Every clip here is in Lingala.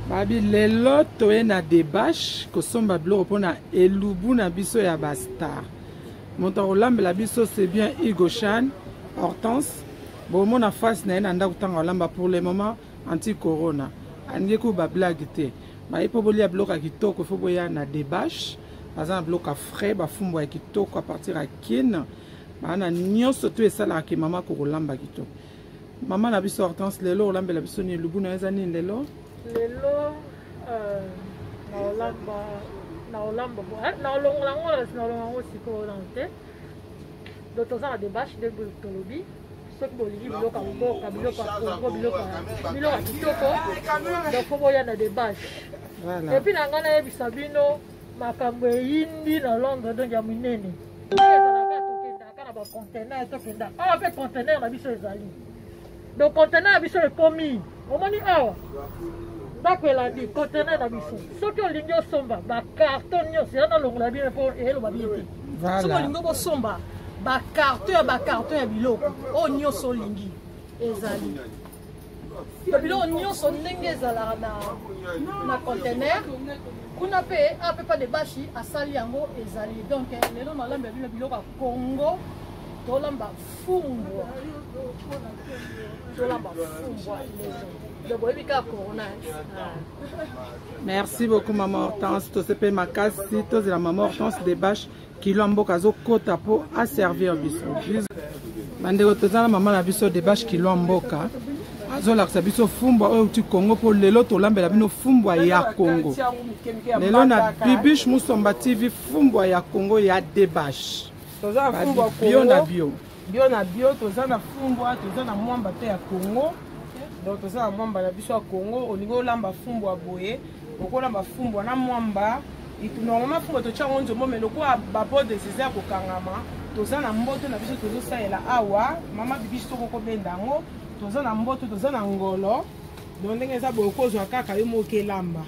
babi lelo toye na debache kosomba biloko mpona elubu na biso ya bastar moto akolambela biso c'est bien hugo chan hortense bomona face na ye na ndako ntango alamba pour le moment anti corona alingi ko ba blague te baye mpo bolia biloko ya kitoko ifo boya na debache baza na biloko ya frais bafumbwa ya kitoko a partir ya kine baana nyonso to esalaka ke mama kokolamba kitoko mama na biso hortense lelo olambela biso nini lubu na yo eza nini lelo lelo euh, naolamba naolamba eh, naolongola ngo naolonga ngo sikoyo nano te donc toza na debache nde tolobi soki bolingi biloko ya mboka biloko ya kongo biloko ya kitoko donc fo boya na debache epuis na ngai nayebisa bino makambo eyindi na londre donc ya minene ezalaka tokendaka na bacontenaire tokenda awa mpe contenaire na biso ezali donc conteneur na biso ekomi omoni awa ndako elandi conteneur na biso soki olingi osomba bacarton nyonso eza nalongola bino mpo eloba bino te soki olingi okosomba bacarton ya bacarton ya biloko oyo nyonso olingi ezali to biloko nyonso ndenge ezalaka na, na contener kuna mpe apepa de bashi asali yango ezali donc eh, lelo nalamba bino biloko ya congo tolamba fumbwa tola bafumbwa merci beaucoup mama hortense tosepe makasi tozela mama hortense de bache kilo ya mboka azokota mpo aservir biso bandeko toza na mama na biso de bache kilo ya mboka azolakisa biso fumbwa oyo euti kongo mpo lelo tolambela bino fumbwa ya kongo lelo na bibiche musomba tv fumbwa ya kongo ya debashe toza na fumbwa bio na bio bio na bio toza na fumbwa toza na mwamba mpe ya congo donc toza na mwamba na biso ya congo olingi olamba fumbwa boye okolamba fumbwa na mwamba normalement fumbwa totya yango nzombo me lokola babodes eza ya kokangama toza na mboto na biso tozosalela awa mama bibiso tokokobenda yango toza na mboto toza na ngolo donc ndenge eza boye okozwa kaka yo moko elamba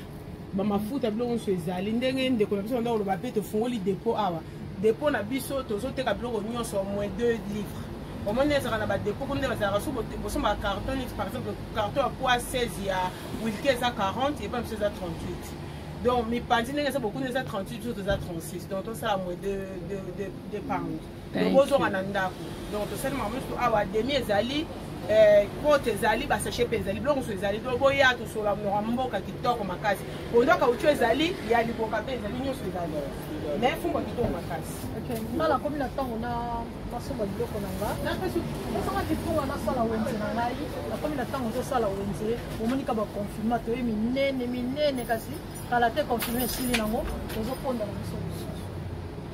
bamafuta biloko nyonso ezali ndenge ndeko na biso banda koloba mpe tofungoli depo awa depo na biso tozoteka biloko nyonso au moins 2 livres omoni ezalaka na badepo kuna nde bazalaka so bosomba carton neti par exemple carton ya poids 16 ya wilke eza 40 epa biso eza 38 donc mipanzi ndenge eza bokuna eza 38 biso toza 36 donc tosala moins 2 pound bozonga na ndako donc tosali makambo nyonso awa demi ezali kote eh, ezali basashe mpe ezali biloko mosusu ezali to boya tosola mnoka mboka kitoko makasi pondo kaucho ezali ya liboka mpe ezali nyonso ezali me fumba kitoko makasi nga nakomi na ntango na masomba biloko na nga nasanga kitunga nasala wenze na ngai nakomi na ntango tozosala wenze omonika baconfirma toye minene minene kasi kala te confirme esili nango tozokonda na biso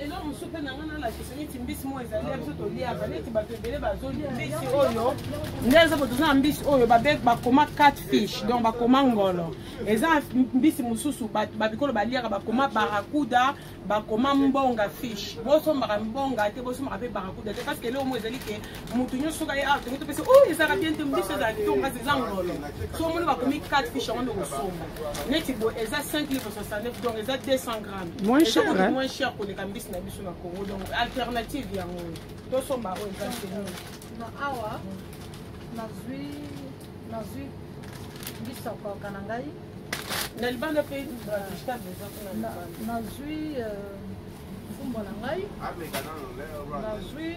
eloko mosusu mpe na ngai nalakisa neti mbisi moko ezali ya biso toliaka neti bato ebele bazoli mbisi oyo nde eza po toza na mbisi oyo bakoma cat fish donc bakoma ngolo eza mbisi mosusu babikolo baliaka bakoma barakuda bakoma mbonga fish bosombaka mbonga te bosombaka mpe barakuda te parce que eloko moko ezali ke moto nyonso soki aye awa tongo topesi o ezalaka bien te mbiso ezala kitoko kasi eza ngolo so omoni bakomi 4 fiche yango nde kosomba neti boye eza 5 livre 69 donc eza 200 gramme moins cher koleka mbisi na biso na congo donc alternative yango tosomba oyo eza seno na awa nazwi nazwi mbisi ya koyoka na ngai na libanda mpe nazwi euh, mfumbo na ngai nazwi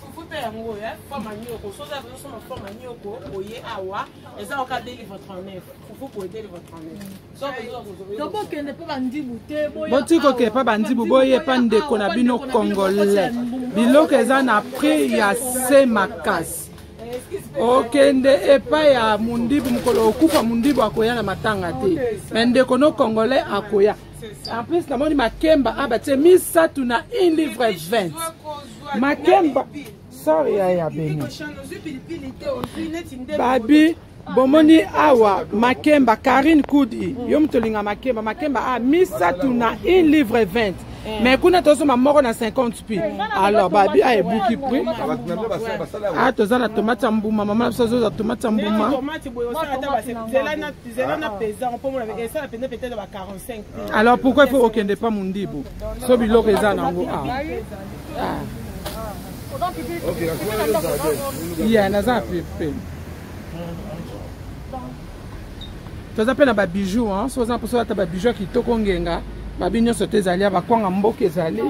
fufupe yango oyo eh, fo manioko soki azo soma fo manioko oye awa eza oka delivre 39 fufu po delivre 39 tokokende mpo bandibu te boti kokende mpo bandibu boye mpa ndeko na bino congolais biloko eza na prix ya se makasi eh, okende epai ya mondibu mokolo okufa mondibu akoya na matanga te me ndeko no congolais akoya en plus namoni makemba abatie misato na un livre 20 makemba sor ya ya beni babi bomoni awa makemba karine kudi mm. yo moto olinga makemba makemba a ah, misato na un livre 20 eh. mais kuna tozoma moko na 50 pi eh, alors babi a ah, ebuki prix a ah, toza na tomate ya mbuma mama na biso azoza tomate ya mbuma alors pourquoi il faut okende pas mundibu so biloko eza nango a ya naza pepe toza mpe na babijou so oza mposo ata babijou ya kitoko ngenga babi nyonso te ezali ya bakwanga mboka ezali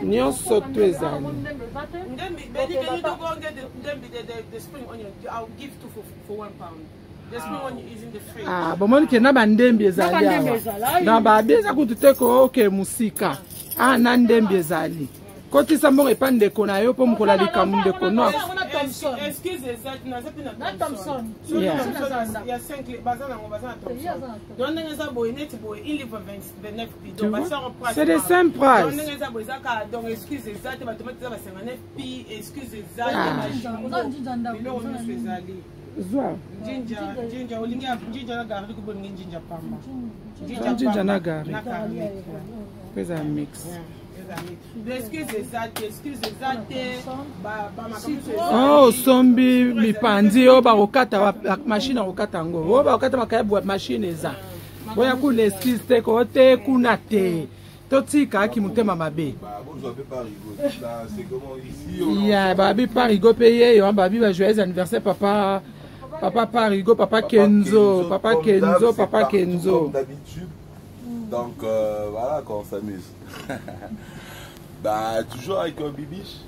nyonso to ezali Ndembi, Benny, can you do go and get the, Ndembi, the, the, the spring onion? I'll give two for, for one pound. Ah, bomoni ke na bandembi ezali awa na babi eza kutu te kooke mosika a ah, na ndembi ezali kotisa mbongo epa ndeko na yo mpo mokola likambo ndeko nox c'est de simple price ah. zwa jinja jinja olingi jinja na garlic ko bolingi jinja pamba jinja jinja na garlic na garlic pesa mix excuse eza te excuse eza te oh sombi mipanzi oyo oh, bakokata mashine akokata yango oyo oh, bakokata makayabu mashine eza oya kuna excuse te koo te kuna te totika kimotema mabe ya babi parigo mpe yeyo babi ba joyeux anniversaire papa papa parigo papa kenzo papa kenzo papa kenzo donc euh, voilà qu'on s'amuse bah toujours avec un bibiche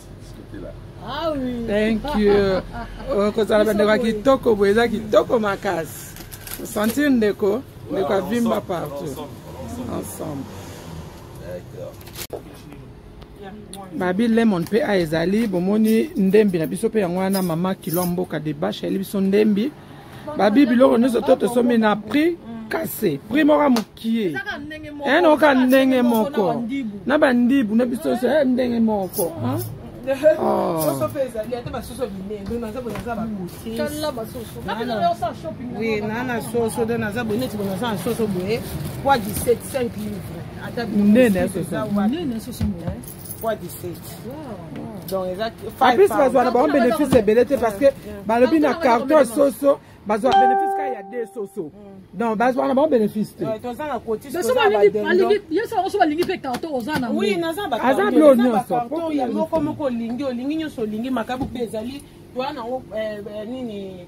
Ah oui. Thank you. okozala bandeko ya kitoko boye eza kitoko makasi osentir ndeko ndeko avimba partout ensemble babi lemon mpe a ezali bomoni ndembi na biso mpe yango wana mama kilo ya mboka debashe ayeli biso ndembi babi biloko nyonso to tosombi na prix kase prix moko mokie ene eh, oka ndenge moko na bandibu na biso nyonso eh, ndenge moko nana soso de naza boye neti bonaza na soso boye poids 17 5 livre ata monene ya soso poids 17 donc eza en plus bazwa na bango bénéfice ebele te parce que balobi na carton soso bazwa bénéfice kaka ya de soso mm. donc bazwa na bango bénéfice te yoso balingi mpe carton oza na aza blo nyonso moko moko olingi olingi nyonso olingi makabu mpe ezali toa nango eh, eh, nini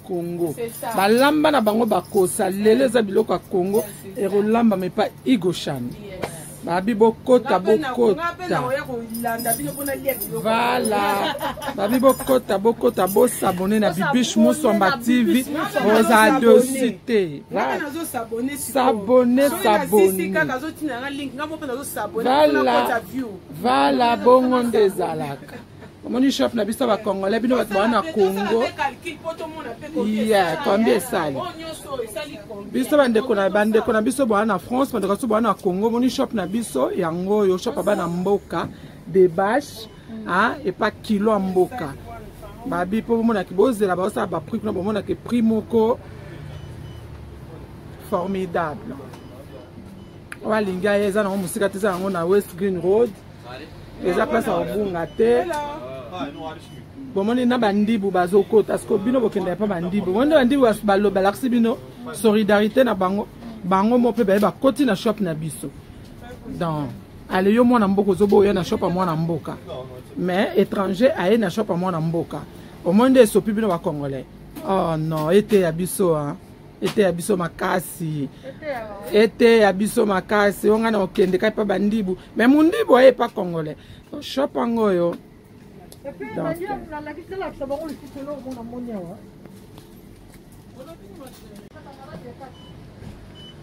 congo balamba na bango bakosa lelo eza biloko ya congo ekolambama epa igoshan babi bokota bokota vala babi bokota bokota bosabone na bibish musomba tv boza dosi te sabone sabone vala bongo nde ezalaka omoni chef na biso bacongolais bino bato baa na congo ya combien esali biso bandeko na bandeko na biso baa na france bandeko biso baa na congo omoni shop na biso yango oyo shop aba na mboka debache ah, epa kilo ya mboka babi mpo bomonaki bozela baosala baprix kuna bomonaki prix moko formidable oyo alingi aya eza nango mosika te eza yango na west green road eza place ya kobunga te bomoni na bandibu bazokota siko bino bokenda ya mpa bandibu bomoni nde bandibu balakisi bino solidarité na bango bango mo mpe baye bakoti na shop na biso donc ale yo mwana mboka ozoba oya na shop ya mwana mboka mais étranger aye na shop ya mwana mboka omoni nde esopi bino bacongolais oh non eteya biso a eteya biso makasi eteya biso makasi oyo ngai na okende kai mpa bandibu me mondibu aye epa congolais shop yango oyo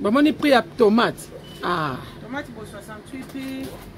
bamoni prix ya tomate ah. tomate bo 68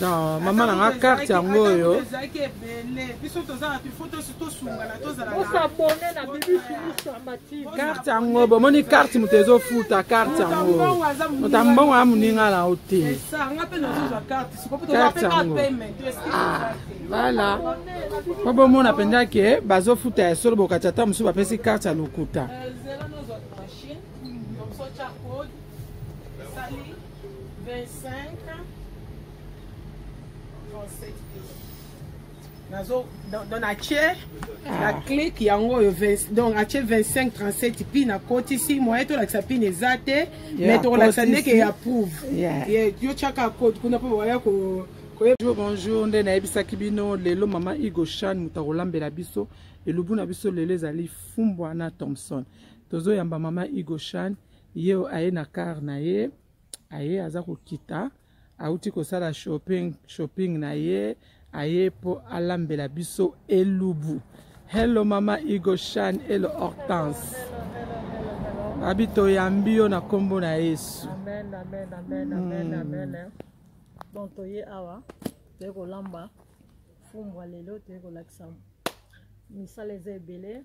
non mama na nga carte yango oyo ezalaki ebele biso tozala bifo tosungana tozalaosabone na bibicarte yango bomoni carte moto ezofuta carte yango moto ya mbongo ya moninga na yo te carte yango vala po bomona mpenza ke bazofuta ya solo bokati ata mosusu bapesi carte ya lokuta 25 nazo donc natie na click yango oyo donc atie 25 37 pi nakotisi moye tolakisa pine eza te mais tokolakisa ndeke ya prouve yo tiaka code kuna mpo baya ko bonjour bonjour nde nayebisaki bino lelo mama igo shan moto akolambela biso elubu na biso lelo ezali fumbwa na thomson tozoyamba mama igo shan Ye oyo aye na car na ye, aye aza kokita, auti kosala shopping, shopping na ye, aye mpo alambela biso elubu. Hello mama Igo Shan et le Hortense. Abi toyambi yo na kombo na Yesu. Amen, amen, amen, amen, mm. amen. Eh. Donc toye awa, toye kolamba fumbwa lelo, toye kolakisa misala eza ebele.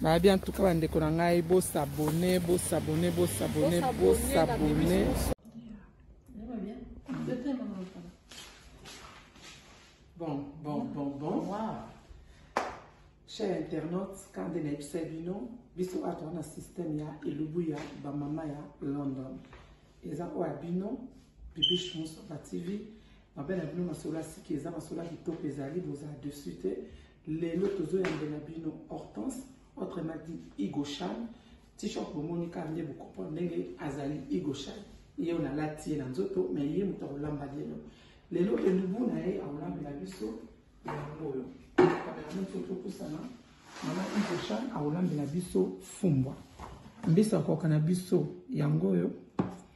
nayebi en tout cas bandeko na ngai bosabone bosabone bosabone bosabone bon bon bon bon wow. cher internaute kande na yebisa bino biso oyo toza na systeme ya elubu ya bamama ya london eza oyo ya bino bibiche mosoba tv mabe na bino masolo ya siki eza masolo ya kitoko ezali bozala dessus te lelo tozoyambela bino hortense autrement dit igoshan t-shirt bomoni kaka nde bokomprendre ndenge azali igoshan ye oyo nalati ye na nzoto me ye moto akolamba lelo lelo elubu na ye akolambela biso yango oyo kameraman so topusana mama igoshan akolambela biso fumbwa mbisi akoka na biso yango oyo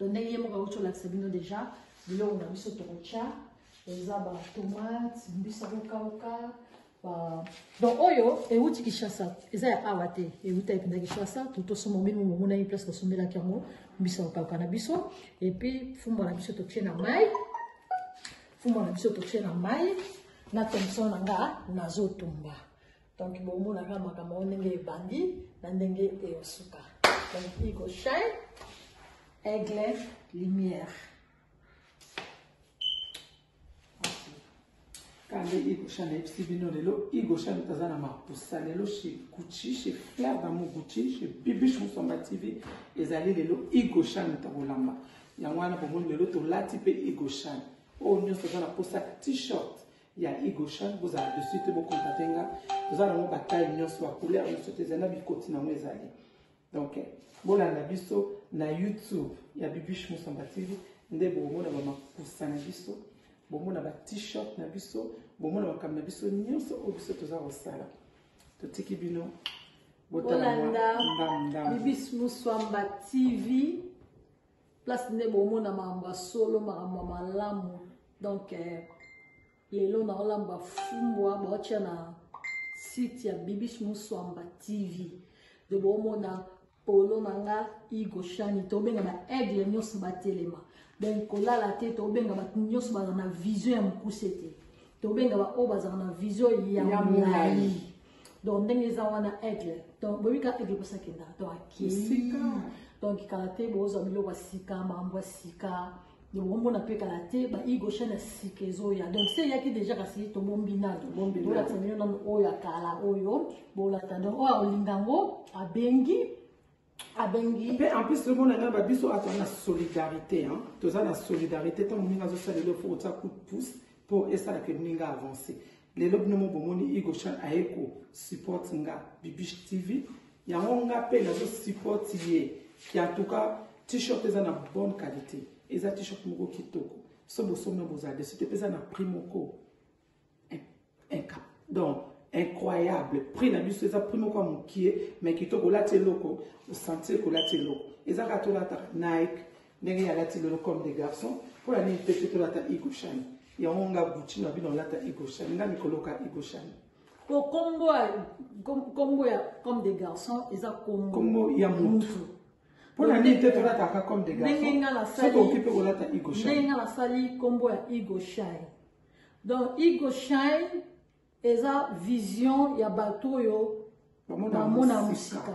donc ndenge ye moko awuti olakisa bino deja biloko na biso tokotya eza batomate mbisa kokauka ba donc oyo ewuti kishasa eza ya awa te ewuta epinda kishasa totosomba bino momonaki place tosombelaki yango mbisa kokauka na biso epuis fumba na biso totie na mai fumba na biso totie na mai na tomson na nga nazotumba donc bomona kaka makambo yango ndenge ebandi na ndenge eyosuka donc iko shine aigle lumière kande igosha nayebisi bino lelo igosha moto aza na mapusa lelo chez gucci chez flair damo gucci chez bibiche mosomba tv ezali lelo igosha moto akolamba yango wana bomoni lelo tolati mpe igoshan oyo oh, nyonso eza na mposa t-shirt ya Hugo Chan bozala dessus te bokontate nga toza nango bataille nyonso bacouleur nyonso te ezali na bikoti nango ezali donc bolanda biso na youtube ya bibish mosamba tv nde bokomona bamakusa na biso bomona ba t-shirt na biso bomona makambo na biso nyonso oyo biso toza kosala totiki bino bolanda bibis moswamba tv place nde bomona makambo ya solo makambo ya malamu donc eh, lelo nakolamba fumbwa baotya na site ya bibis muswamba tv de bomona polo na nga igo shani tobenga ba aigle nyonso batelema donc kolala te tobenga bato nyonso bazala na vision ya mokuse te tobenga baoyo bazala na vision ya molai donc ndenge eza wana aigle donc boyebi kaka aigle bosi akendaka donc akei donc kala te bozwa biloko ya sika makambo ya sika bomona mpe kala te baigo chaine ya sika ezoya donc se eyaki déjà kasi tobombi nano bolakisa bino nano oyo ya kala oyo bolata donc oyo akolinga yango abengi abongi mpe en plus lobo na ngai babiso aza na solidarité hein. toza na solidarité ntango moninga azosala lelo fo kotia coup de pouce mpo esala ke moninga avance lelo bino mo bomoni igochan aye ko support nga bibish tv yango nga mpe nazo support ye ki en tout cas t-shirt eza na bonne qualité eza t-shirt moko kitoko so bosomna bozala desu te mpe eza na prix moko donc incroyable prix na biso eza prix moko ya mokie mai kitoko olati eloko osentir kolati eloko eza kaka tolataka nike ndenge ye alati lelo comme des garçons mpo na nini te te tolata igoshani yango nga gucci na bino olata igoshani nga mikoloka igoshani po kombo ya kombo ya comme des garçons eza kombo kombo ya mutu mpo na nini te tolataka comme des garçons soki okipe kolata igoshani ndenge nga nasali kombo ya igoshani Donc Igo Shine eza vision ya bato oyo bamona mosika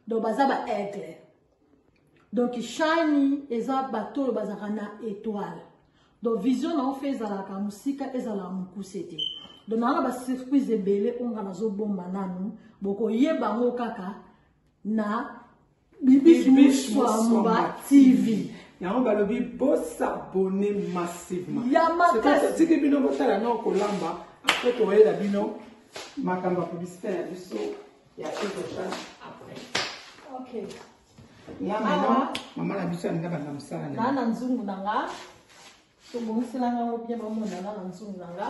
donc baza ba aigle donc shani eza bato oyo bazalaka na étoile donc vision na ofe ezalaka mosika ezala mokuse te donc nanga basurprise ebele oyo nga nazobomba nanu bokoyeba yango kaka na Bibiche Moussamba TV. yango balobi bosabone massivement tiki bino botala nao kolamba apres toyela bino makambo ya publicité na biso ya ekosa après okay. nga mama mama na biso alinga banda mosala na nzungu na nga tobongiselanga ngo bien bamona nga na nzungu na nga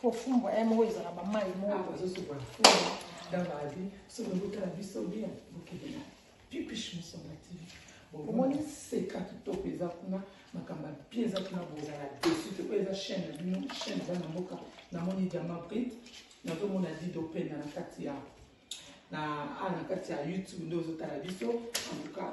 Faut fumbwa ya moko ezala ba mayi moko. Ah, bazo sopa fumbwa dans la vie. Ce que vous avez vu, c'est bien. Vous qui venez. Pipiche, nous sommes actifs. omoni seka kitoko eza kuna makambo ya bie eza kuna bozala desu te oyo eza chaine na bino chaine eza na mboka namoni diama brite nazomona dido pena na kati ya na a na kati ya youtube nde ozotala biso antuka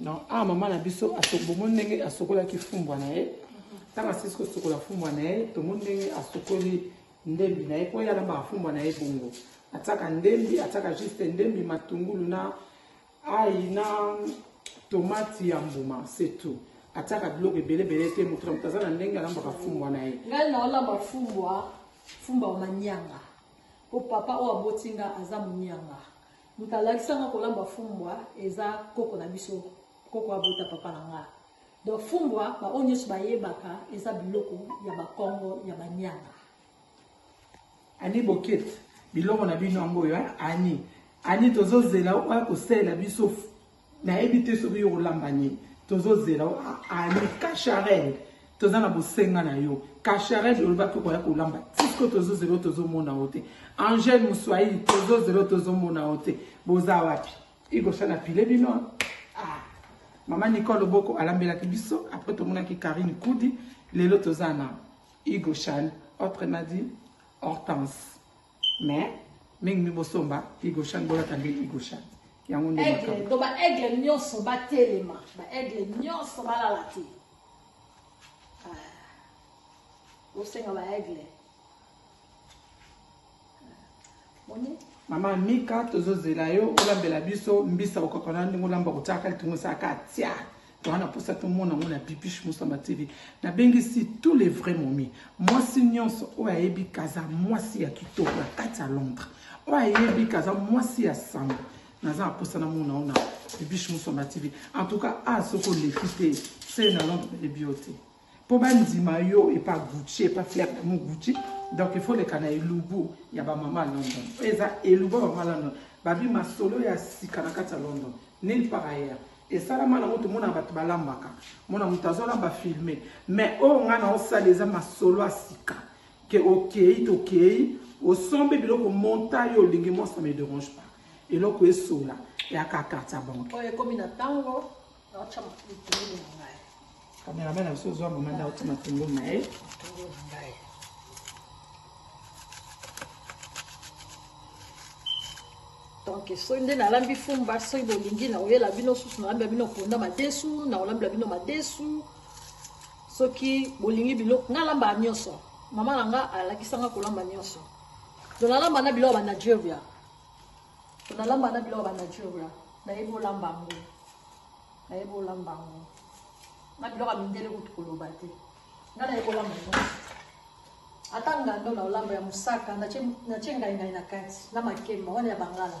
non awa ah, mama na biso bomoni ndenge asokolaki fumbwa na ye ntango asisi kosokola fumbwa na ye tomoni ndenge asokoli ndembi na ye mpo ye alambaka fumbwa na ye bongo atiaka ndembi atiaka juste ndembi matungulu na ai na tomati ya mbuma se tout atiaka biloko ebelebele te moto na moto aza na ndenge alambaka fumbwa na ye ngai naolamba fumbwa fumbwa manianga mpo papa oyo aboti nga aza monianga Moto alakisa nga kolamba fumbwa eza koko na biso, koko abota papa na nga. Donc fumbwa ba oyo nyonso bayebaka eza biloko ya bakongo ya banyanga. Ani bokete biloko na bino yango oyo ani ani tozozela oya kosalela biso nayebi te soki yo olamba nini tozozela yo ah, ah, ani kasharel toza na bosenga na yo kasharel olobaki okoya kolamba tisko tozozela yo tozomona yo te angel moswahili tozozela yo tozomona yo te boza wapi igosa na pile bino ah. mama nicole oboko alambelaki biso apres tomonaki karine kudi lelo toza na igoshan autre madi hortense mais mingi mi bosomba igoshan bolata nde igoshan yango nde aigle to ba aigle nyonso batelema ba aigle nyonso balala te bosenga ah. ba aigle moni mama mika tozozela yo olambela biso mbisa okokona ndenge olamba kotyaka litungu esaka tia toa na mposa tomona yango na bibiche mosamba tv nabengisi tous les vrais momi mwasi nyonso oyo ayebi kaza mwasi ya kitoko na kati ya londres oyo ayebi kaza mwasi ya sango naza na mposa namona yango na bibiche mosamba tv en tout cas a ah, soki oleki te se na londres nayebi yo te po bandima yo epa gucci epa flair damu gucci donc il faut leka na elubu ya bamama london oyo eza elubu ya bamama london babi masolo ya sika na kati ya london nil par ailleurs esalama nango tomonaka bato balambaka mona moto azolamba filme mais oyo ngai naosala eza masolo ya sika ke okei tokei osombi biloko monta yo olingi monsa me derange pas eloko esola yaka kati ya banke oyo ekomi na ntango Cameraman a zwa mama nda otima matungulu na ye donc soki nde nalambi fumba soki bolingi nakoyela bino susu nalambela bino ponda madesu nakolambela bino madesu soki bolingi biloko nga alambaka nyonso mama na nga alakisanga kolamba nyonso to nalamba na biloko ya banigeria Nalamba na biloko ba nature la. Nayebi olamba yango. Nayebi olamba yango. Na biloko ya mindele kutu koloba te. Nga nayebi olamba yango. Ata ngando na olamba ya mosaka natie ngaingai na kati na makemba wana ya bangala.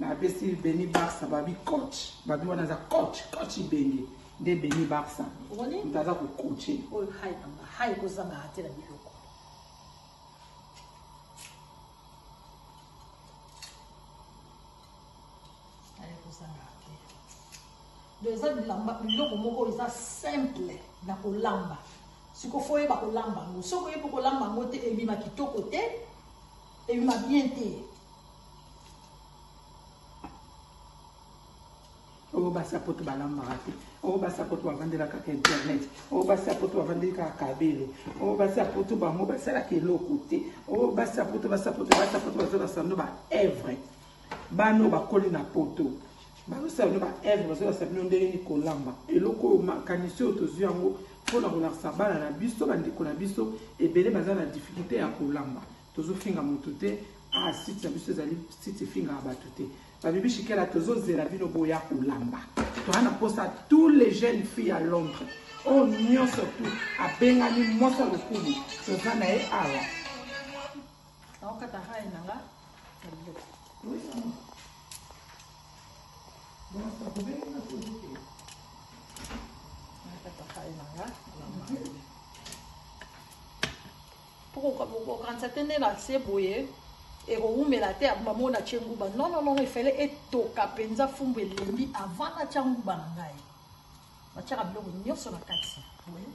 na pesi beni barsa babi coach babi wana aza coach coach ibenge nde beni barsa moto aza kocoache oyo hai nanga hai kozangaka te na biloko donc eza bilamba biloko moko eza simple na kolamba sikoyo fo oyeba kolamba yango soki oyebi kolamba yango te ebima kitoko te ebima bien te oyo basi ya poto balambaka te oyo basi ya poto bavandela kaka internet oyo basi ya poto bavandeli kaka kabele oyo basi ya poto bango basalaka eloko te oyo basi ya poto basi ya poto basi ya poto bazala sando ba evre bana oyo bakoli na poto bazosala bino baevre bazolakisa bino ndenge nini kolamba eloko oyo makanisi oyo tozwi yango mpo na kolakisa bana na biso bandeko na biso ebele baza na difficulté ya kolamba tozofinga moto te ah site na biso ezali site efingaka bato te babibi shikela tozozela bino boya kolamba toza na mposa tous les jeunes filles ya londres oyo oh, nyonso tu abengani mwasi ya lokumu toza na ye awa Thank you. Pour kokanisa te nde na se boye ekowumela te abuma moko na tie nguba non non non efele etoka mpenza fumbu elembi avant na tia nguba na ngai natiaka biloko nyonso na kati boye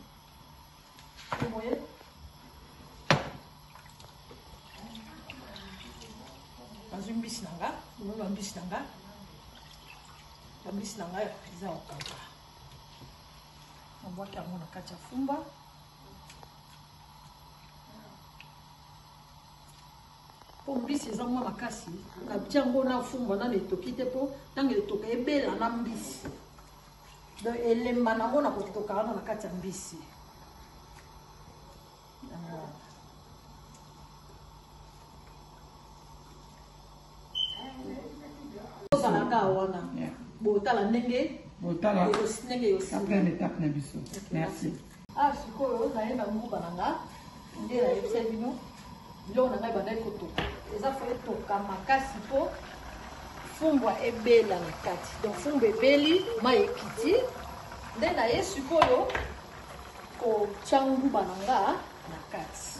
boye nazwi mbisi na nga omoni bambisi na nga bambisi na nga eza kokauka nabwaki yango na kati ya fumba mpo mbisi eza mwa makasi natia yango na fumba nano etoki te mpo ntango etoka ebela na mbisi donc elemba nango na kotoka wana na kati ya mbisi awa sikoyo naye na mbuka na nga nde nayebisa bino biloko na ngai bandaki kotoka eza fo etoka makasi mpo fumbwa ebela na kati donc fumbwa ebeli mai ekiti nde naye sikoyo kotya nguba na nga na kati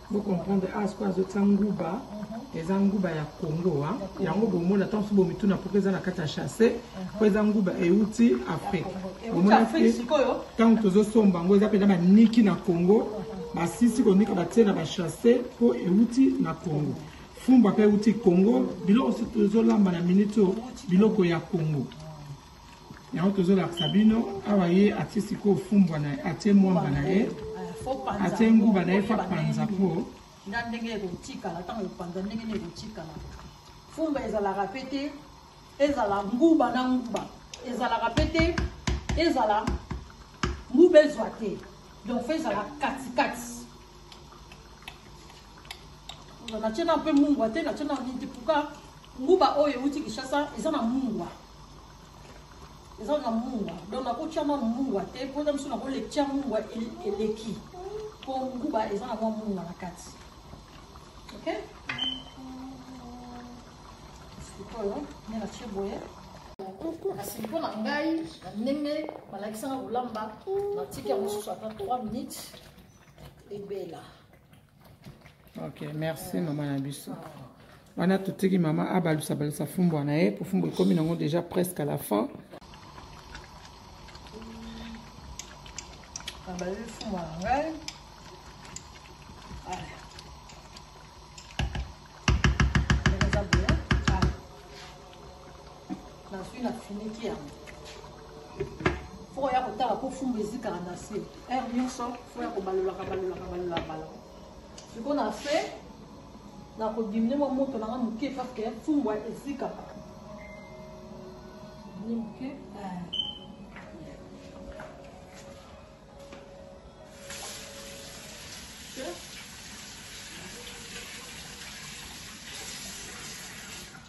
Bo comprendre awa sikoyo azotia nguba eza nguba ya congo a yango bomona ntango mosusu bomituna mpoka eza na kati ya chasse mpo eza nguba euti afrique ntango tozosomba yango eza mpenza baniki na congo basisi konika batie na bachasse mpo euti na congo fumba mpe euti congo biloko tozolamba na miniti oyo biloko ya congo yango tozolakisa bino awa ye atie sikoyo fumbwa na ye atie mwamba na ye atie nguba na ye fa panza po nga ndenge ekotikala ntango ekopanza ndenge nini ekotikala fumba ezalaka mpe te ezala nguba na nguba ezalaka mpe te ezala nguba ezwa te donc fo ezala katikati natie na mpe mungwa te natie na nini te puka nguba oyo euti kishasa eza na mungwa eza na mungwa donc nakotia mwa mungwa te mpo eza mosusu nakoletia mungwa eleki mpo nguba eza na mwa mungwa na kati ok sikoyo nde natie boye kasi mpo na ngai na ndenge balakisaka kolamba natiki yango mosusu ata 3 minutes ebela ok merci mama na biso wana totiki mama abalusa balusa fumbwa na ye po fumbwa ekomi nango déjà presque à la fin nabaleli fumbwa na ngai nazwi na finiki yango fo oya kotala mpo fumbu ezikaka na se heure nyonso fo ya kobalolaka balolaka balolaka balaka sikoyo na se nakodimine mwa moto nanga moke parceke fumbu ezikaka ni moke eh.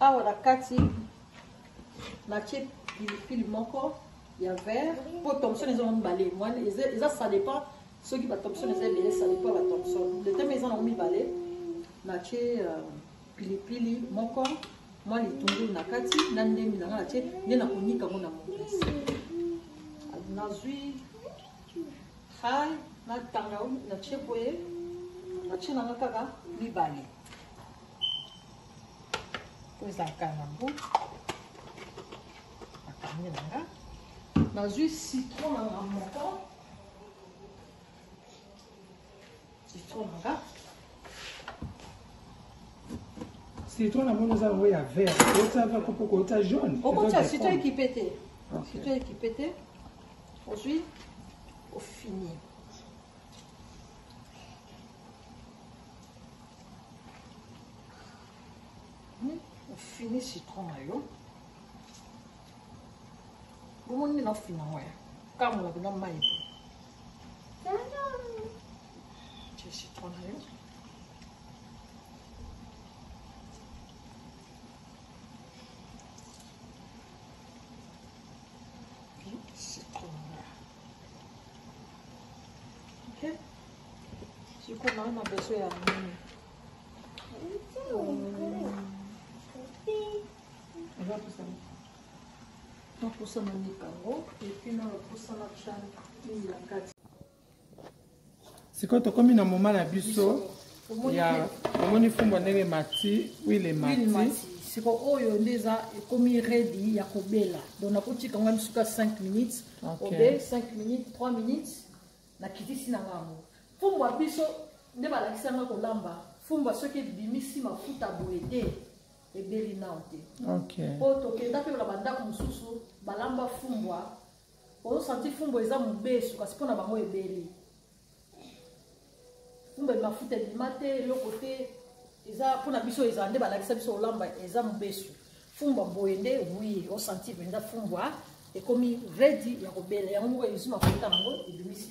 awa na kati natie pilipili moko ya vert mpo thomson eza mibale mwana eza ça dépend soki ba thomson eza ebele ça dépend ba thomson letema eza nango mibale natie euh, pilipili moko mwa litungulu na kati na ndembi na ngai natie nde nakonika yango na mokasi nazwi hai na tanga natie boye natie na ngai kaka mibale po ezalaka yango nakangi na ngai nazwi citron na ngai moko Citron nanga. Citron na mono za ngo ya vert. Ota va kopo ko ota jaune. Oko cha citron ekipe te. Citron ekipe te. Ozui au fini. Hmm, au fini citron na yo. bomoni nde nafinga ngo ya kamola mpenza mai tie citron na yo sikoyo nayo na beso ya nini napusana mikango epi na bapusana chane mingi na kati sikoyo tokomi na moma na biso ya omoni fumbo ndenge emati wile emati siko oyo nde eza ekomi redi ya kobela donc nakotika ngai misuka 5 minutes obe 5 minutes 3 minutes nakitisi na ngango fumbo ya biso nde balakisa ngai kolamba fumba soki ebimisi mafuta boye te ebeli nao te okay. po tokenda mpe na bandako mosusu balamba fumbwa ozosanti fumbwa eza mobesu kasi mpo na bango ebeli fumbwa mafuta ebima te eloko te eza mpo na biso eza nde balakisa biso olamba eza mobesu fumbwa boye nde wi osanti mpenza fumbwa ekomi redi ya kobela yango moko ezwi mafuta yango ebimisi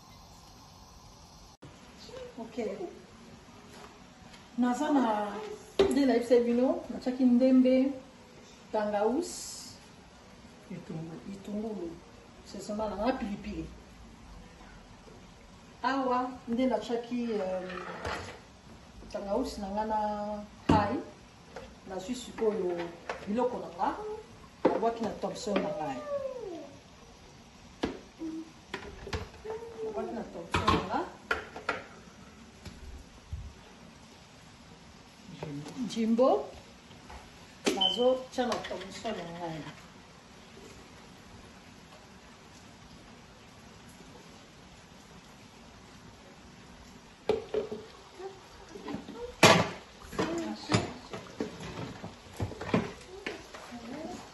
Okay. naza na nde nayebisa bino natyaki ndembe tangaus litungulu sesema na nga pilipili awa nde natyaki euh, tangaus na nga na hai nazwi sikoyo biloko na nga nabwaki na thomson na ngai jimbo nazotya na tomiso na ngai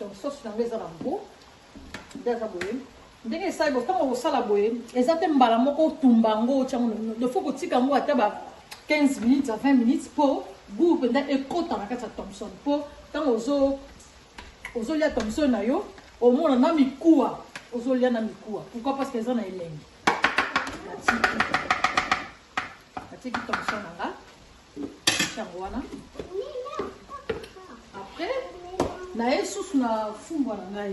donc sauce na yango eza na gout nde aza boye ndenge esali bo ntango kosala boye eza te mbala moko otumba yango otya yango nofo kotika yango ata ba 15 minutes ya 20 minutes mpo gout mpenza ekota na kati ya thomson mpo ntango ozo ozolia thomson na yo omona na mikuwa ozolia na mikuwa pourquoi parce que eza na elengi natie ki torchon na nga yango wana après naye susu na fumbwa na ngai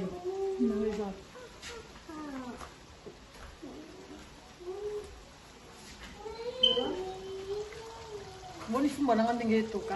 yango eza moni fumbwa na nga ndenge etoka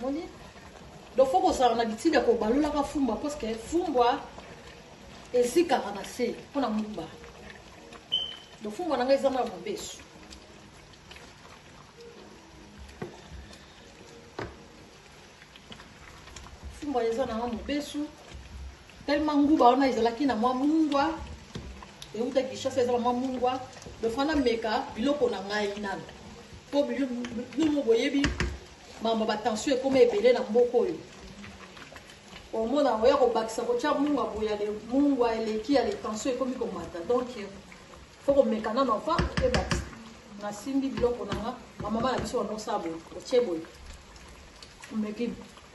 moni donc fo kozala na bitika kobalolaka fumba parceke fumbwa ezikaka na se mpo na mumba donc fumbwa na ngai eza mwa mobesu fumbwa eza na mwa mobesu Tellement nguba wana ezalaki na mwa mungwa euta Kinshasa ezala mwa mungwa lofana meka biloko na ngai nano mpo bino boyebi mambo batension ekoma ebele na mboka oyo omona oya kobakisa kotya mungwa boya le mungwa eleki ya letension ekomi komata donc fo komeka nano mpa ebakisa nasimbi biloko na nga bamama na biso banosala boye otye boye omeki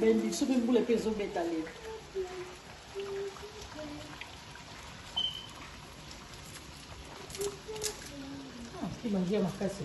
bendi soki mbula mpe ezobeta lelo bangi ya makasi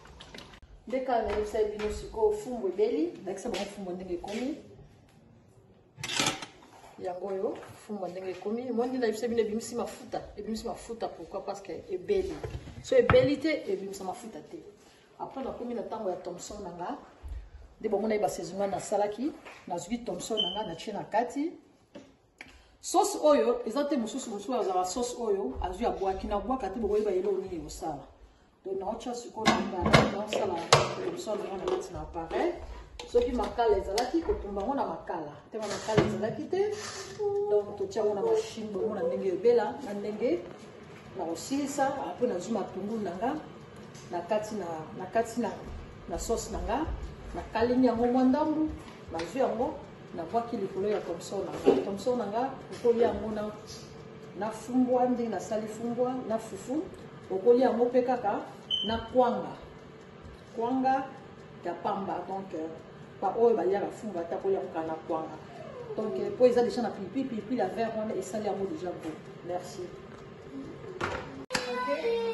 nde kaka nayebisaki bino sikoyo fumbu ebeli ndakisa bango fumbu ndenge ekomi yango oyo fumba ndenge ekomi mondi na biso bino ebimisi mafuta ebimisi mafuta pourquoi parce que ebeli so ebeli te ebimisa mafuta te après nakomi na ntango ya thomson na nga nde bomona ye basaison nga nasalaki nazwi thomson na nga natie na kati Sauce oyo eza te mosusu mosusu azala sauce oyo azwi abwaki na bwaka te bokoyeba eloko nini ekosala donc naotya sikoyo na appareil naosala emission na yango na kati na appareil soki makala ezalaki kotumba yango na makala ntango makala ezalaki te donc totya yango na mashine bomona ndenge ebela na ndenge na kosilisa apres nazwi matungulu na nga na kati na na kati na na sauce na nga nakalingi yango mwa ndambu nazwi yango nabwaki likolo ya tomson na nga tomson na nga okoli yango na na fumbwa ndenge nasali fumbwa na fufu okoli yango mpe kaka na kwanga kwanga ya pamba donc euh, baoyo balyaka fumbwa ata koli yango kaka na kwanga donc euh, mpo eza déjà na pipi pipi la vert wana esali yango déjà bo merci okay.